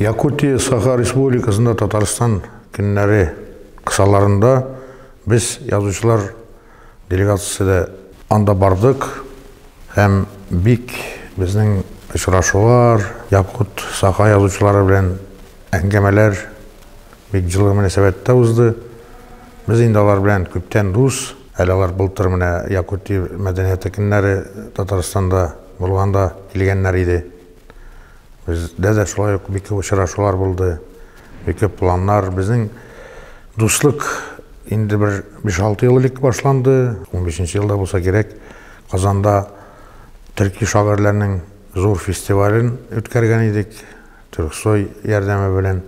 Якутия Саха Республикасында Татарстан көннәре кысаларында без язучылар делегациясе анда бардык һәм бик безнең очрашулар, якут, саха язучылары белән әңгәмәләр бик җылы мөнәсәбәттә узды. Без инде алар белән күптән дус, әле алар былтыр менә Якутия мәдәнияте көннәре Татарстанда булганда килгәннәр иде. Бездә дә шулай ук бик күп очрашулар булды, бик күп планнар. Безнең дуслык инде бер 5-6 ел элек башланды. 15 елда булса кирәк, Казанда төрки шагыйрьләрнең зур фестивален үткәргән идек, Төрксой ярдәме белән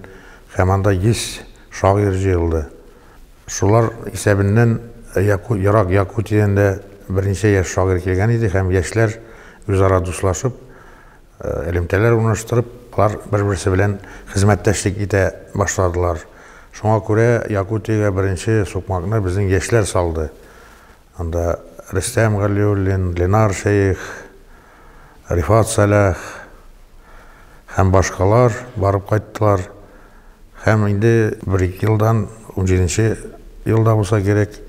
һәм анда 100 шагыйрь җыелды. Шулар исәбеннән Яку, ерак Якутиядән дә берничә яшь шагыйрь килгән иде һәм яшьләр үзара дуслашып, Элемтәләр урнаштырып, алар бер-берсе белән хезмәттәшлек итә башладылар. Шуңа күрә Якутиягә беренче сукмакны безнең яшьләр салды. Анда Рөстәм Галиуллин, Ленар Шәех, Рифат Сәлах һәм башкалар барып кайттылар. Һәм инде бер-ике елдан, унҗиденче елда булса кирәк,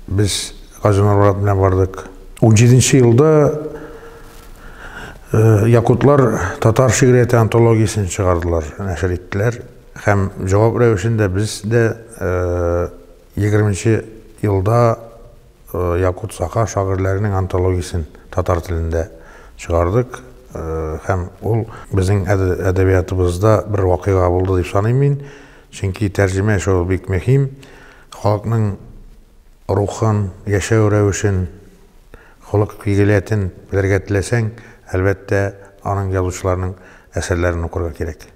без Гази Нурмурат белән бардык. Унҗиденче елда якутлар татар шигърияте антологиясен чыгардылар, нәшер иттеләр. Һәм җавап рәвешендә без дә егерменче елда Якут-Саха шагыйрьләренең антологиясен татар телендә чыгардык. Һәм ул безнең әдәбиятыбызда бер вакыйга булды дип саныйм мин. Чөнки тәрҗемә эше ул бик мөһим. Халыкның рухын, яшәү рәвешен, холык-фигылятен белергә теләсәң, әлбәттә, аның язучыларның әсәрләрен укырга кирәк.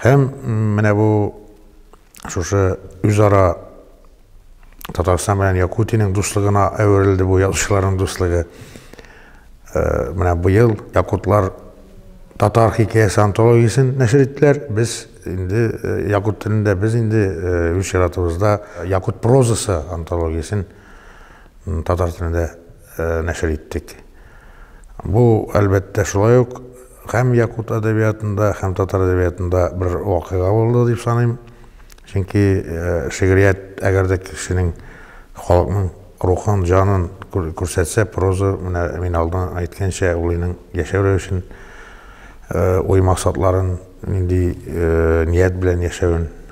Һәм менә бу Шушы үзара Татарстан белән Якутиянең дуслыгына әверелде бу язучыларның дуслыгы. Э, менә быел якутлар татар хикәясе антологиясен нәшер иттеләр. Без инде э, якут телендә без инде э, үз чиратыбызда якут прозасы антологиясен татар телендә нәшер иттек. Бу, әлбәттә, шулай ук Һәм якут әдәбиятында, һәм татар әдәбиятында бер вакыйга булды дип саныйм. Чөнки шигърият, әгәр дә кешенең, халыкның рухын, җанын күрсәтсә, проза, менә мин алдан әйткәнчә, ул инең яшәү рәвешен, уй-максатларын, нинди ният белән яшәвен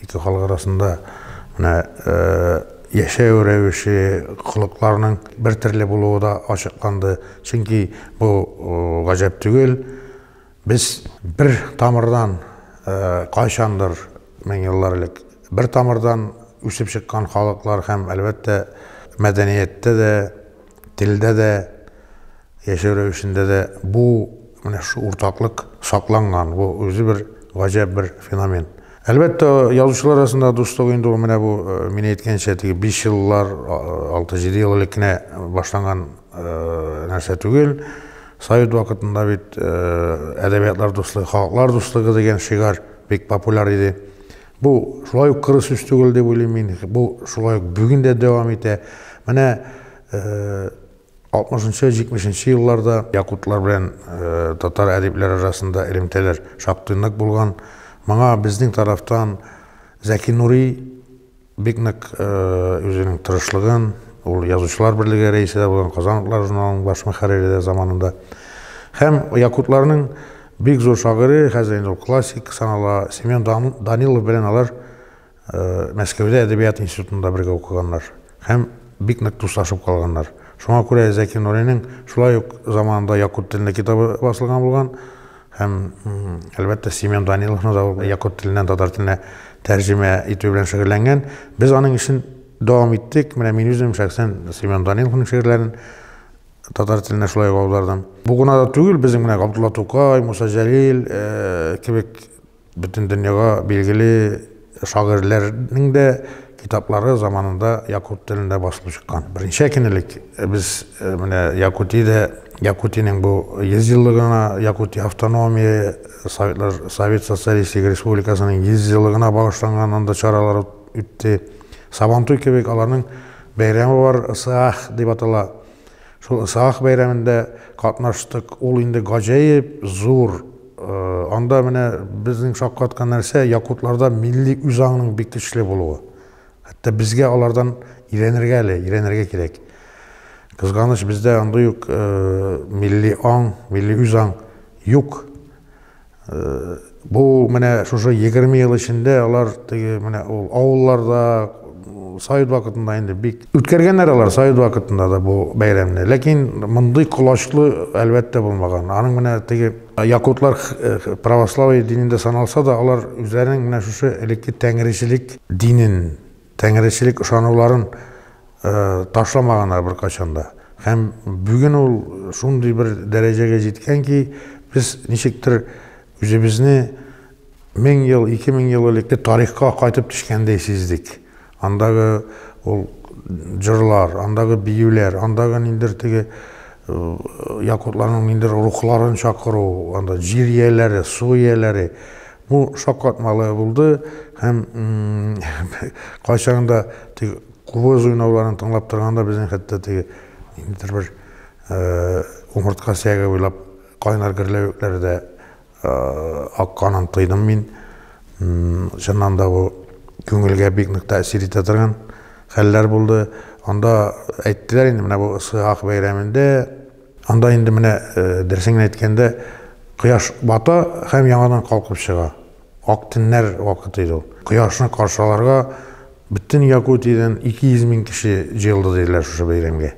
Ике халык арасында менә яшәү рәвеше, холыкларның бер төрле булуы да ачыкланды. Чөнки бу гаҗәп түгел. Без бер тамырдан кайчандыр, мең еллар элек, бер тамырдан үсеп чыккан халыклар һәм, әлбәттә, мәдәнияттә дә, телдә дә Яшәү рәвешендә дә бу, менә шушы уртаклык сакланган. Бу үзе бер гаҗәп бер феномен. Әлбәттә, язучылар арасындагы дуслык инде ул менә бу, мин әйткәнчә, теге биш еллар, алты-җиде ел элек кенә башланган нәрсә түгел. Совет вакытында бит әдәбиятлар дуслыгы, халыклар дуслыгы дигән шигарь бик популяр иде. Бу шулай ук коры сүз түгел дип уйлыйм мин. Бу шулай ук бүген дә дәвам итә. Менә 60-70 елларда якутлар белән татар әдипләре арасында элемтәләр шактый нык булган. Моңа безнең тарафтан Зәки Нури бик нык үзенең тырышлыгын, ул язучылар берлеге рәисе дә булган, Казан утлары журналының баш мөхәррире дә заманында. Һәм якутларның бик зур шагыйре, хәзер инде ул классик санала, Семен Данилов белән алар Мәскәүдә әдәбият институтында бергә укыганнар һәм бик нык дуслашып калганнар. Шуңа күрә Зәки Нуриның шулай ук заманында якут телендә китабы басылган булган һәм, әлбәттә, Семен Даниловны да ул якут теленнән татар теленә тәрҗемә итү белән шөгыльләнгән. Без аның эшен дәвам иттек. Менә мин үзем шәхсән Семен Даниловның шигырьләрен татар теленә шулай ук аудардым. Бу гына да түгел, безнең менә Габдулла Тукай, Муса Җәлил кебек Бөтен дөньяга билгеле шагыйрьләрнең дә китаплары заманында якут телендә басылып чыккан. Беренче әкинелек без менә Якутиядә Якутиянең бу 100 еллыгына, Якутия автономия Советлар Совет Социалистик Республикасының 100 еллыгына багышланган анда чаралар үтте. Сабантуй кебек аларның бәйрәме бар, Ысыах дип атала. Шул Исаак бәйрәмендә катнаштык. Ул инде гаҗәеп зур. Анда менә безнең шаккаткан нәрсә, якутларда милли үзаңның бик көчле булуы. Хәтта безгә алардан өйрәнергә әле, өйрәнергә кирәк. Кызганыч, бездә андый ук милли аң, милли үзаң юк. Бу менә шушы 20 ел эчендә алар теге менә ул авылларда совет вакытында инде бик үткәргәннәр алар совет вакытында да бу бәйрәмне. Ләкин мондый колачлы әлбәттә булмаган. Аның менә теге якутлар э, православие динендә саналса да, алар үзләренең менә шушы элекке тәңречелек динен Тәңречелек ышануларын ташламаганнар беркайчан да. Һәм бүген ул шундый бер дәрәҗәгә җиткән ки, без ничектер үзебезне 1000 ел, 2000 ел элекке тарихка кайтып төшкәндәй сиздек. Андагы ул җырлар, андагы биюләр, андагы ниндер теге якутларның ниндер рухларын чакыру, анда җир ияләре, су ияләре, Бу шаккатмалы булды һәм кайчагын да теге кубыз уйнауларын тыңлап торганда безнең хәтта теге ниндидер бер умыртка сөяге буйлап кайнар гөрләвекләр дә акканын тойдым мин. Чыннан да бу күңелгә бик нык тәэсир итә торган хәлләр булды. Анда әйттеләр инде, менә бу Ысыйхак бәйрәмендә Анда инде менә дөресен генә әйткәндә, кояш бата һәм яңадан калкып чыга. Ак төннәр вакыты иде ул. Кояшны каршы алырга бөтен Якутиядән 200 мең кеше җыелды диделәр шушы бәйрәмгә.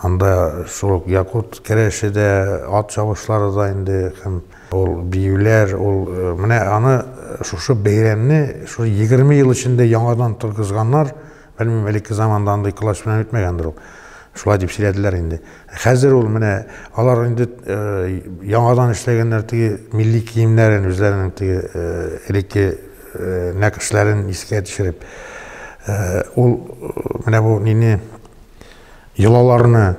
Анда шул ук якут керәше дә, ат чабышлары да инде һәм ул биюләр, ул менә аны шушы бәйрәмне шул 20 ел эчендә яңадан торгызганнар. Белмим, элекке заманда андый колач белән үтмәгәндер ул. Шулай дип сөйләделәр инде. Хәзер ул менә алар инде э, яңадан эшләгәннәр теге милли киемнәрен, үзләренең теге э, элекке э, нәкышләрен искә төшереп. Ул менә бу нине йолаларны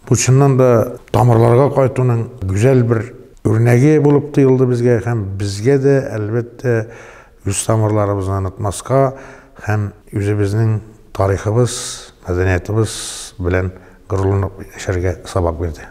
бу чыннан да тамырларга кайтуның гүзәл бер үрнәге булып тоелды безгә һәм безгә дә әлбәттә Үз тамырларыбызны онытмаска һәм үзебезнең тарихыбыз, мәдәниятыбыз белән горурланып яшәргә сабак бирде.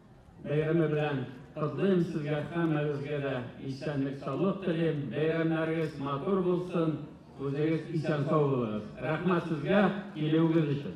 Бәйрәме белән котлыйм сезгә һәммәгезгә дә исәнлек саулык телим бәйрәмнәрегез матур булсын үзегез исән сау булыгыз рәхмәт сезгә килүегез өчен.